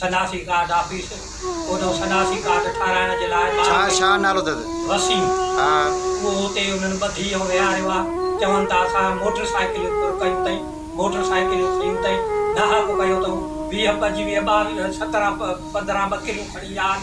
Sanasi card office اوڏو سناسي card ٺاهرائڻ جي لاء ٻاهر وسيم اهو اتي انهن ٻڌي ۽ ويهاريو آ چون ته اسان موٽر سائيڪليون پر ڪيون تئين موٽر سائيڪليون کنيون تئين ناهپ ڪيو تئون ويهه پنجويهه ٻاويهه سترهن پندرهن ٻڪريون کڻي آ ن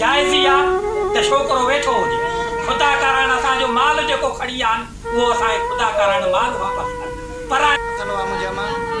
جائز ئي آ ته ڇوڪرو ويٺو هجي. خدا ڪارڻ اسان جو مال جيڪو کڻي ويا آهن اهو اسان کي خدا ڪارڻ مال واپس ڪن. پر. ٿيندو آ منهنجي امان.